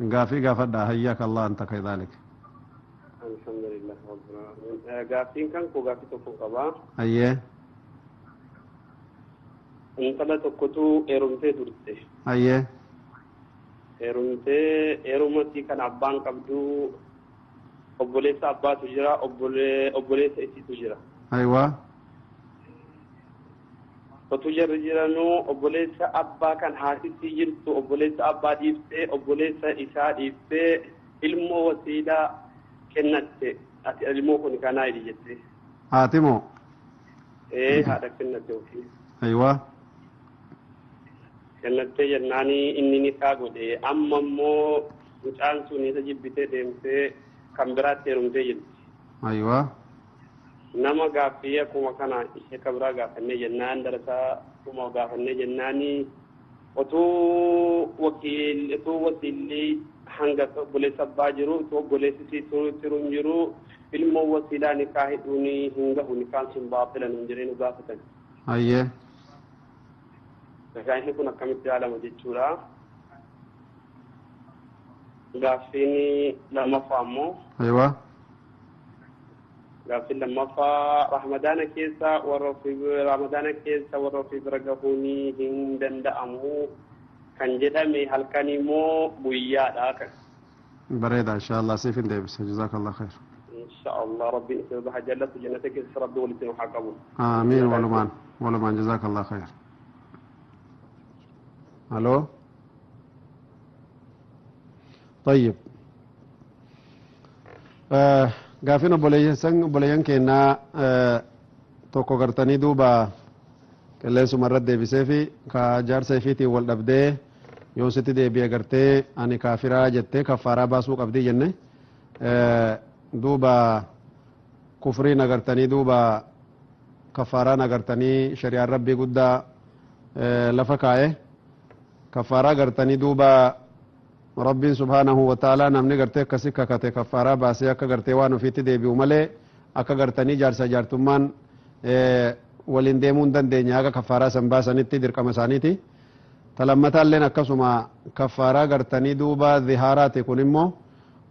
Gaafii gaafadhaa hayyaak Allah anta kaydaalik. Alhamdulillah Rabbil Alamin. Eh, Gaaffiin kan koo gaaffii tokko qaba. Hayyee Intala tokkotu heerumtee turte. hayyee Heerumtee heerumatti kan abbaan qabdu obboleessa abbaatu jira obbole- obboleessa isiitu jira. haywaa Otuu jarri jiranuu obboleessa abbaa kan haatittii jirtu obboleessa abbaa dhiiftee obboleessa isaa dhiiftee ilmoo wasiilaa kennatte ati ilmoo kuni kanaa jedhi jettee. Haati moo? Ee haadha kennatte ofii. Ayiwaa. Kennattee jennaanii inni nikaa godhe amma immoo mucaan sun isa jibbitee deemtee kan biraatti heerumtee jirti. Ayiwaa. Nama gaaffii akkuma kana shekka biraa gaafannee jennaan darasaa dhuma gaafannee jennaani otuu wakiil otuu wasiilli hanga obboleessa abbaa jiru otuu obboleessi sii turu tiru hin jiru ilmoo wasiilaa nikaa hidhuun hin gahu nikaan sun baatila nun jedhee nu gaafatan. Hayyee. Egaa inni kun akkamitti ilaalama jechuudha. Gaaffiin lammaffaa ammoo Ayiwaa. Gaaffiin lammaffaa Ramadaana keessa warra ofii Ramadaana keessa warra ofii bira gahuun hin danda'amu kan jedhame halkan immoo guyyaadha kan. Bareeda inshaallah siif hin deebisa jazaakallah khair. Inshaallah rabbiin isin irra haa jaallatu jannata keessa rabbi walitti nu haa qabu. Aamiin walumaan walumaan jazaakallah khair. Haloo. طيب Gaaffiin obboleeyyan keennaa tokko gartanii duuba qilleensuma irratti deebisee fi ka jaarsa ifiitiin wal dhabdee yoon sitti deebi'e gartee ani kaafiraa jettee kaffaaraa baasuu qabdii jenne duuba kufriin agartanii duuba kaffaaraan agartanii shari'aan rabbii guddaa lafa kaa'e kaffaaraa agartanii duuba Rabbiin subhaanahu wa ta'aalaa namni gartee akkasi kakate kaffaaraa baasee akka gartee waan ofiitti deebi'u malee akka gartanii jaarsa jaartummaan waliin deemuu hin dandeenye haga kaffaaraa san baasanitti dirqama isaaniiti. Talammataalleen akkasuma kaffaaraa gartanii duuba zihaaraati kun immoo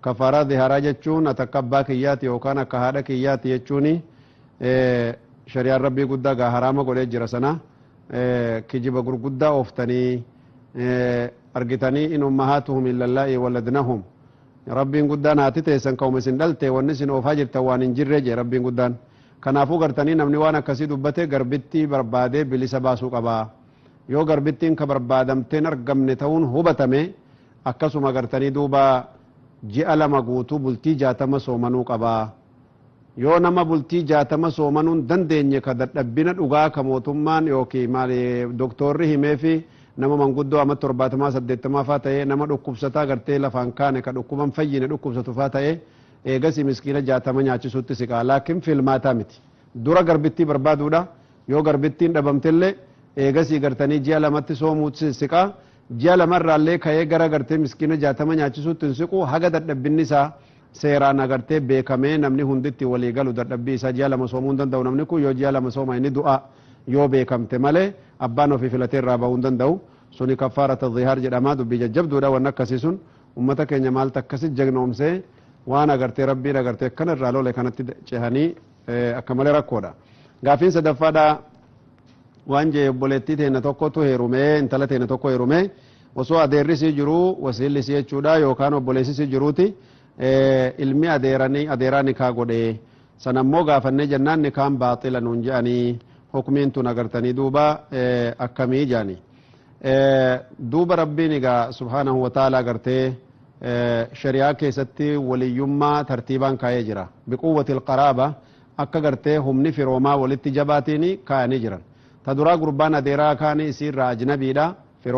kaffaaraa zihaaraa jechuun ati akka abbaa kiyyaati yookaan akka haadha kiyyaati jechuuni shari'aan rabbii guddaa gaa haraama godhee jira sana kijiba gurguddaa ooftanii argitanii in ummahaatuhum illallaa'i waladnahum Rabbiin guddaan haati teessan ka'uma isin dhalte wanni isin oofaa jirtan waan hin jirre jee Rabbiin guddaan kanaafuu gartanii namni waan akkasii dubbate garbittii barbaadee bilisa baasuu qaba yoo garbittiin ka barbaadamteen argamne ta'uun hubatame akkasuma gartanii duuba ji'a lama guutuu bultii jaatama soomanuu qaba Yoo nama bultii jaatama soomanuu hin dandeenye ka dadhabbina dhugaa ka mootummaan ykn maali doktoorri himeefi nama manguddoo amat torbaatamaa saddeettamaa faa ta'ee nama dhukkubsataa gartee lafaan kaane ka dhukkuba hin fayyine dhukkubsatu faa ta'e eegasii miskiina jaatama nyaachisuutti siqaa laakin filmaataa miti dura garbittii barbaaduudha yoo garbittiin dhabamtellee eegasii gartanii ji'a lamatti soomuutti siqaa ji'a lama irraallee ka'ee gara gartee miskiina jaatama nyaachisuutti hin siqu haga dadhabbinni isaa Seeraan agartee beekamee namni hundi itti walii galu dadhabbii isaa ji'a lama soomuu hin danda'u namni kun yoo ji'a lama sooma inni du'aa yoo beekamte malee abbaan ofii filatee irraa ba'uu hin danda'u suni kaffaarata zihaar jedhama dubbii jajjabduudha wanni akkasii sun ummata keenya maaltu akkasi jagnoomsee waan agartee rabbiin agartee akkana irraa lole kanatti cehanii akka malee rakkoodha. Gaaffiin sadaffaadha waan jee obboleettii teenna tokkotu heerumee intala teenna tokko heerumee osoo adeerri isii jiruu wasiilli isii jechuudha yookaan obboleessi isii jiruuti ilmi adeeranii adeeraa nikaa godhe sana immoo gaafannee jennaan nikaan baaxila nuun je'anii hukmiin tun agartanii duuba akkamii jaani duuba rabbiin egaa subhaanahu wa ta'ala agartee shari'aa keessatti waliyyummaa tartiibaan kaa'ee jira biquwwati alqaraaba Akka gartee humni firoomaa wolitti jabaatiini kaayanii jiran. Ta duraa gurbaan adeeraa kaani isiirraa ajnabiidha. Firooma.